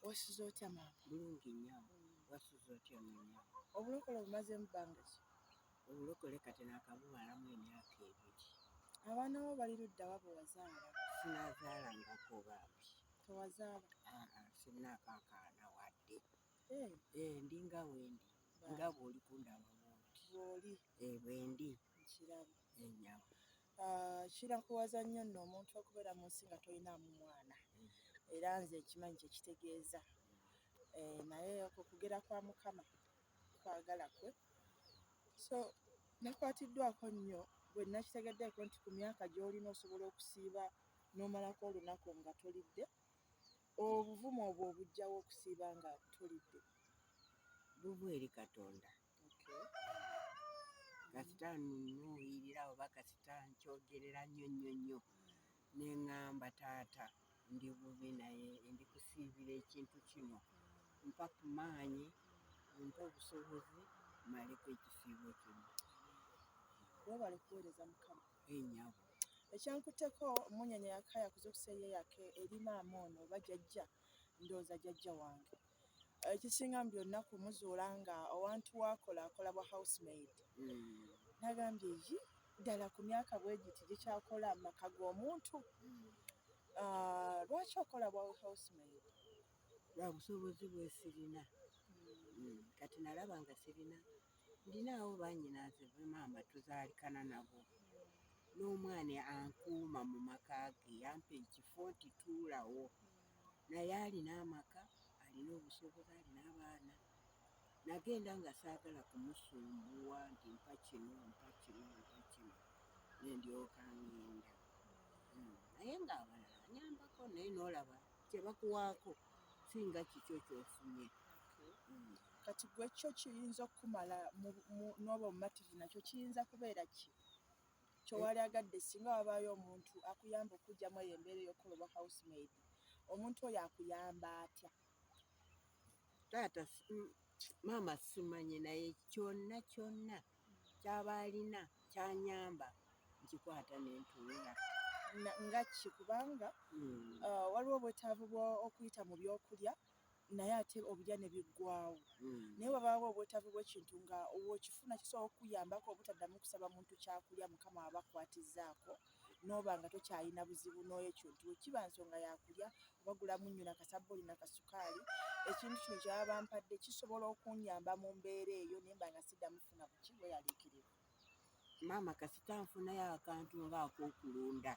wasuze otya maama bulungi nnyo wasuze otya ononya obulokole obumaze mu bbanga ki obulokole kati nakabuwalamu emyaka ebiri abaana bo bali ludda wabo wazaala sinazaalangako bambi tewazaala ah, ah, sinakakaana wadde eh. Eh, ndi nga wendi nga bwoli kundaba bwoli bwendi nkiraba enyama Ah, kinakuwaza nnyo nno omuntu okubeera mu nsi nga tolinaamu mwana era nze nkimanyi kye kitegeeza eh, naye okwo kugera kwa mukama kwagala kwe so nakwatiddwako nnyo bwe nakitegeddeeko nti ku myaka gy'olina osobola okusiiba n'omalako olunaku nga tolidde obuvumu obwo obujjawo okusiiba nga tolidde buva eri katonda kasita nunuuyirira oba kasita nkyogerera nnyo nnyo nnyo ne ŋŋamba taata ndi bubi naye ndi kusiibira ekintu kino mpa ku maanyi mpa obusobozi mmaleko ekisiibo kino webale kuweereza mukama enyabo eh, ekyankuteko munyanya yakaya kuzukusa eyeyake erinaamu ono oba jajja ndooza jajja wange Ekisinga mu byonna kumuzuula nga awantu w'akola akola bwa house maid nagambye eyi ddala ku myaka bwegiti gikyakola mu maka g'omuntu ah, lwaki okola bwa house maid? Lwa busobozi bwesirina hmm, kati nalaba nga sirina ndinaawo banyinaze be maama tuzaalikana nabo n'omwana ankuuma mu maka ge yampa ekifo nti tuulawo naye alina amaka, alina obusobozi, alina abaana. Nagenda nga saagala kumusumbuwa nti mpa kino, mpa kino, mpa kino, ne ndyoka ngenda. Hmm, naye ng'abalala nyambako naye n'olaba kye bakuwaako singa kikyo kyofunye. Hmm. Kati gwe kyo kiyinza okukumala n'oba omumativu nakyo kiyinza kubeera ki? kyewalyagadde singa wabaayo omuntu akuyamba okujjamu eyo embeera eyokukola obwa house maid omuntu oyo akuyamba atya taata mm, maama simanyi naye kyonna kyonna kyaba alina kyanyamba nkikwata nentuula nga ki kubanga mm. uh, waliwo obwetaavu bwokuyita mu byokulya naye ate obirya ne biggwaawo hmm. naye wabaawo obwetaavu bw'ekintu nga wokifuna kisobola okukuyambako obutaddamu kusaba muntu kyakulya mukama aba akwatizzaako n'oba nga tokyalina buzibu n'ekyo nti wekiba nsonga yakulya obagulamu nnyo nakasabbuuli nakasukaali ekintu kino kyaba bampadde kisobola okunyamba mu mbeera eyo naye mba nga siddamu kufuna buki bweyaliikirivu Maama kasita nfunayo akantu nga akokulunda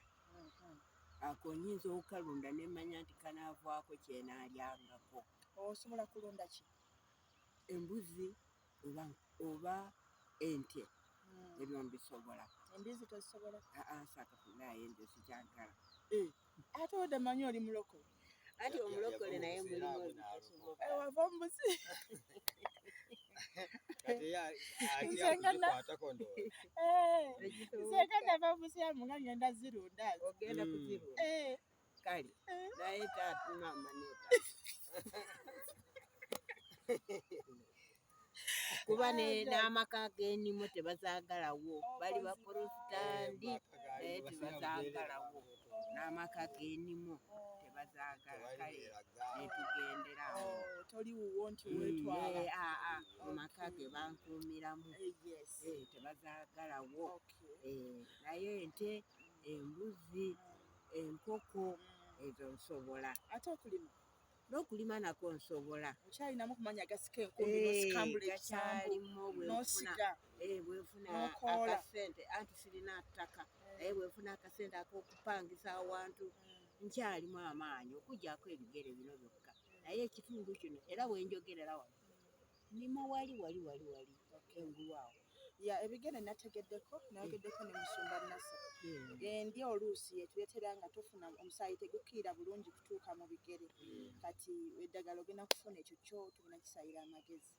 ako nyinza okukalunda nemanya nti kanavwako kyenalyangako. Osobola kulunda ki? Embuzi oba, oba ente hmm. ebyo mbisobola. Embizi tozisobola? Aa ah, ah, sakafuna aye nze sikyagala. Eh. Ate oda manyi oli mulokole. Ati omulokole naye mulimu ebitasoboka. Eh, wava omubuzi. Kati ya ati ya kwata kondo. Eh. Nze kanda va omubuzi ya munga ngenda zirunda. Ogenda mm. kuziru. Eh. Kali. Eh. Naye tatu mama neta. kuba n'amaka g'enimu tebazaagalawo bali baporofitandi naye tebazaagalawo n'amaka g'enimu tebazaagala kale netugendera awo oh, toli wuwo nti mm, wetwala eh, ah, ah, mu maka ge bankuumiramu eh, eh, tebazaagalawo naye ente embuzi enkoko mm. ezo nsobola ate okulima n'okulima nako nsobola okyalinamu kumanya gasika enkumbi eh, nosikambula ekisambu nosiga eh, bwenfuna akasente anti sirina ttaka eh. naye bwenfuna akasente akokupangisa awantu hmm. nkyalimu amaanyi okujjako ebigere bino byokka naye ekitundu kino era wenjogerera wano nima wali wali wali wali engulu awo ya ebigere nategeddeko nayogeddeko ne musumba nasa hmm. endi oluusi yetuletera nga tofuna omusaayi tegukiira bulungi kutuuka mu bigere hmm. kati eddagala ogenda kufuna ekyo kyo tugenda kisayira amagezi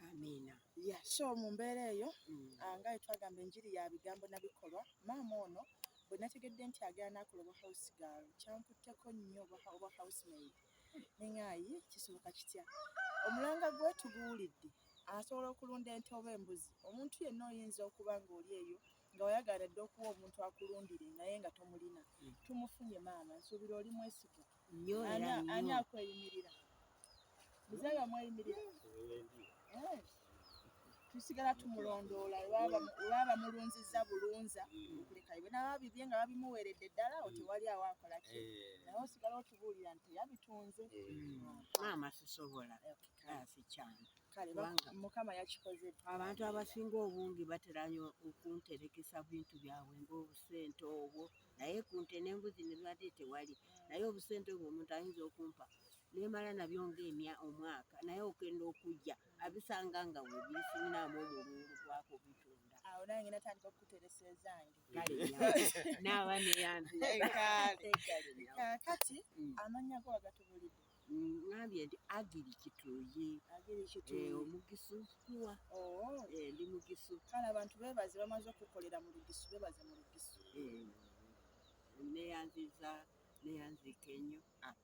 amiina ya so mu mbeera eyo hmm. ah, nga yetwagamba enjiri ya bigambo na bikolwa maama ono bwe nategedde nti agenda nakuloba house girl kyankutteko nnyo oba house maid ne ŋŋaayi kisoboka kitya? Omulanga gwe tuguwulidde, asobola okulunda ente oba embuzi. Omuntu yenna oyinza okuba ng'oli eyo nga wayagala dda okuwa omuntu akulundire naye nga tomulina. Hmm. Tumufunye maama, nsuubira oli mwesigwa. Ani akweyimirira? Muzeeyi omweyimirira? Eh. tusigala tumulondoola webaba bamulunziza bulunza okulekayo bwenaba bibye nga babimuweredde ddala awo tewali awo akola ki eh. naye osigala otubuulira nti yabitunze eh. maama sisobola sikyangu mukama yakikoze abantu abasinga obungi baterayo okunterekesa bintu byabwe ngaobusente obwo naye kunte nembuzi nebibadde tewali naye obusente obwo omuntu ayinza okumpa nemala nabyo ngaemya omwaka naye okenda okujja abisanga nga webisinaamu omulungu gwako bitunda awo naye ngenda tandika okukuteresa ezange naaba neyanzekati mm. amanya go wagatubulidde ngambye nti agiri kituyi eh, omugisu kuwa oh. eh, ndi mugisu kale abantu bebaze bamaze okukolera mu lugisu bebaze mu lugisu eh, neyanziza neyanzika ennyo ah.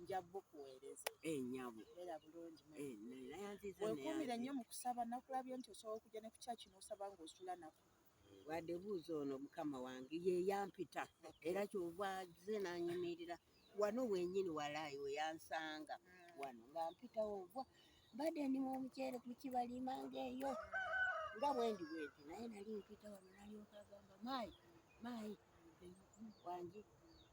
nja bukuweereza eh, nyabo era bulungi eh, wekuumire nnyo mu kusaba nakulabye nti osobola okujja ne ku kyaki n'osaba ng'osula nako wadde buuza ono mukama wange ye yampita era kyova ze nanyimirira wano wenyini walaayi weyansanga hmm. wano nga mpitawo nva mbadde ndi mu omuceere ku kibalima ngaeyo nga bwendi bwenti naye nali mpita wano nalyoka agamba maayi maayi wangi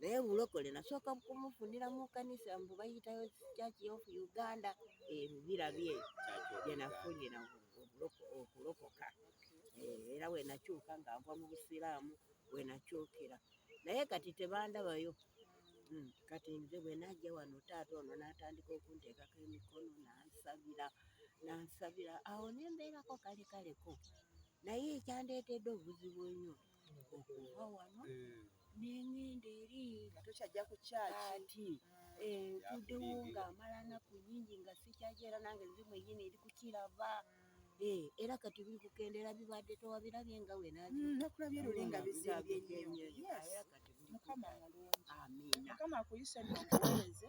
naye bulokole nasooka kumufunira mu kanisa mbu bayitayo church of uganda ebibira bye byenafunira okulokoka eh, era wenakyuka nga nva mu busiraamu wenakyukira naye kati tebandabayo hmm, kati nze bwenajja wano taata ono natandika okunteekako emikono nansabira nansabira awo nembeerako kale kaleko naye ekyandeetedde obuzibu enyo okuva wano eh. nengenda eri nga tokyajja ku kyaki ntudewo eh, ng'amala naku nyingi nga sikyaki era nange nzi mwenyini eri kukiraba eh, era kati biri kukendera bibadde towabirabye nga wenakulabye mm, lulinga bizimbye nnyo mukama mulungi amiina mukama akuyise noweze